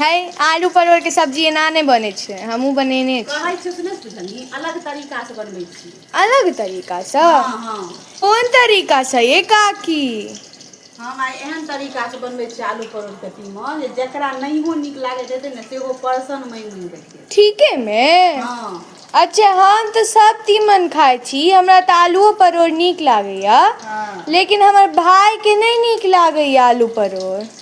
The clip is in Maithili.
हय आलू परोर के सब्जी एना नहि बनै छै हमहुँ बनेने कहै छियौ से नहि बुझलही अलग तरीकासँ बनबै छी अलग तरीकासँ हँ हँ कोन तरीकासँ ये काकी हम आइ एहन तरीकासँ बनबै छियै आलू परोर के तीमन जे जकरा नहियो नीक लागैत हेतै ने सेहो परसन मानि मानि कऽ खेतै ठीके मे हँ अच्छा हम तऽ सब तीमन खाय छी हमरा तऽ आलुओ परोर नीक लागैया हँ लेकिन हमर भाय के नहि नीक लागैया आलू परोर